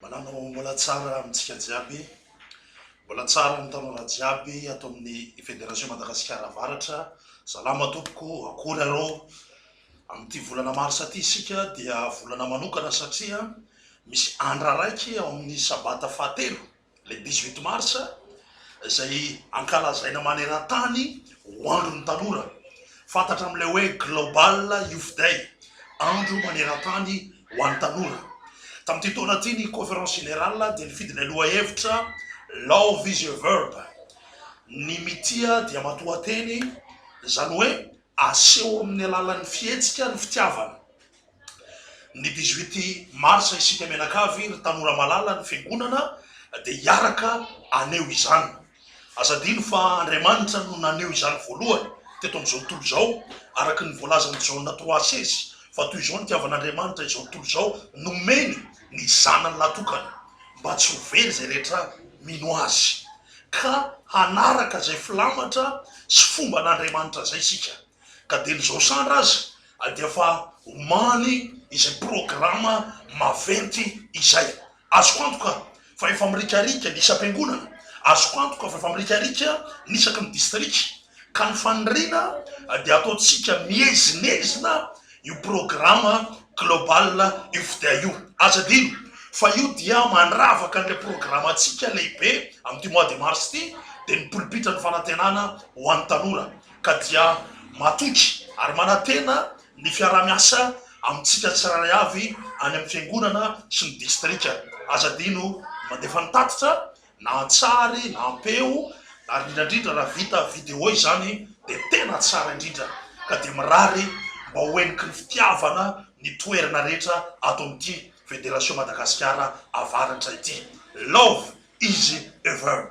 Manana ho mbola tsara amintsika jiaby, mbola tsara amin'ny tanora jiaby ato amin'ny Federation Madagasikara Avaratra. Salama tompoko, akory arô? Amin'ity volana marsa ity isika dia volana manokana satria misy andra raiky ao amin'ny sabata fahatelo, le dix-huit marsa, izay ankalazaina maneran-tany ho andron'ny tanora. Fantatra amin'ilay hoe Global Youth Day, andro maneran-tany ho an'ny tanora. Tamin'ity taona ity ny Conférence Générale dia nifidy ilay lohahevitra Love is a verb, ny mitia dia matoanteny, izany hoe aseho amin'ny alalan'ny fihetsika ny fitiavana. Ny dix-huit mars isika mianakavy ry tanora malala ny fiangonana dia hiaraka haneho izany. Aza adino fa Andriamanitra no naneho izany voalohany teto amin'izao tontolo izao araka ny voalazan'i Jaona trois seize fa toy izao nitiavan'Andriamanitra izao tontolo izao nomeny ny zanany lahy tokana mba tsy ho very izay rehetra mino azy. ka hanaraka izay filamatra sy fomban'Andriamanitra izay isika, ka dia ny Zosandra aza dia efa omany izay programa maventy izay. Azoko antoka fa efa mirikarika ny isam-piangonana, azoko antoka fa efa mirikarika ny isaky ny distrika, ka ny faniriana dia ataontsika miezinezina, Io programa global io fda io, aza adino fa io dia mandravaka an'ilay programantsika lehibe amin'ity mois de mars ity, dia ny polipitra ny fanantenana ho an'ny tanora ka dia matoky ary manantena ny fiaraha-miasa amintsika tsirairay avy any amin'ny fiangonana sy ny distrika. Aza adino ny mandefa ny tatitra na an-tsary na am-peo ary indrindra indrindra raha vita vidéo izany dia tena tsara indrindra ka dia mirary mba ho heniky ny fitiavana ny toerana rehetra ato amin'ity Federation Madagasikara Avaratra ity. Love izy ever.